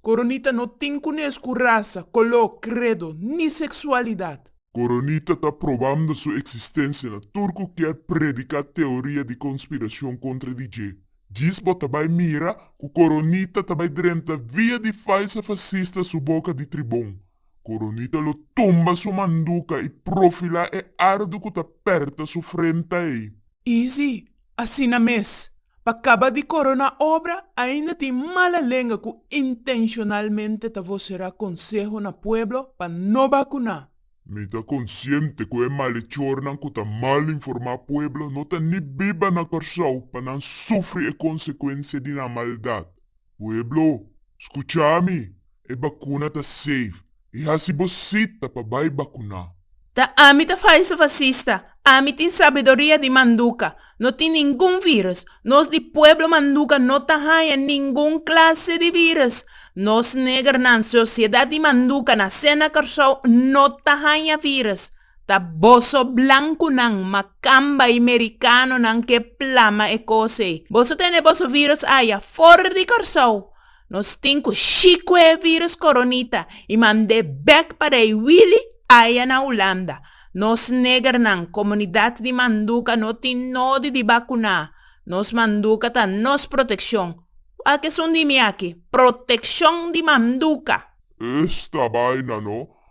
Coronita no tin cu nes cu raza, coló, credo, ni sexualidad. Coronita ta probando su existencia na tur cu kier predica teoria di conspiracion contra di dje. Djis bo ta bay mira cu Coronita ta bay drenta via di falsa fascista su boca di tribon. Coronita lo tumba su manduca y profila e ardo cu ta perta su frenta ey. Easy, Asina mes, pa kaba di koroná obra, ainda tin mala lenga ku intenshonalmente ta voserá konseho na pueblo pa no bakuná. Mi ta konsiente ku e malechornan ku ta mal informá pueblo no ta ni biba na Kòrsou pa nan sufri e konsekuensia di nan maldat. Pueblo, skucha mi! E bakuna ta safe. E hasi bo sita pa bai bakuná. Ta ami ta falso fasista. Ami tin sabiduria di manduka. No tin ningun virus. Nos di pueblo manduka no ta haña ningun klase di virus. Nos negernan, sosiedat di manduka, nasé na Kòrsou, no ta haña virus. Ta boso blankunan makamba i merikanonan ke plama e kos ei. Boso tene boso virus aya for di Kòrsou. Nos tin ku shiko e virus koronita i mand'é bèk pa Rei Wili aya na Hulanda. Nos negernan, komunidat di Manduka no tin nodi di bakuná. Nos Manduka ta nos protekshon. Kua kesun di mi aki? Protekshon di Manduka! Esta baina no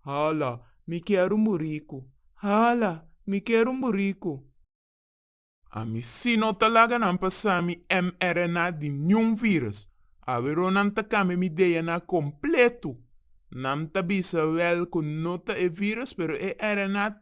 Hala, mi kier un buriku. Hala, mi kier un buriku. Ami si no ta laga nan pasa mi mRNA di niun virus. Awero nan ta kambia mi DNA kompletu. Nan ta bisa wel ku no ta e virus pero e RNA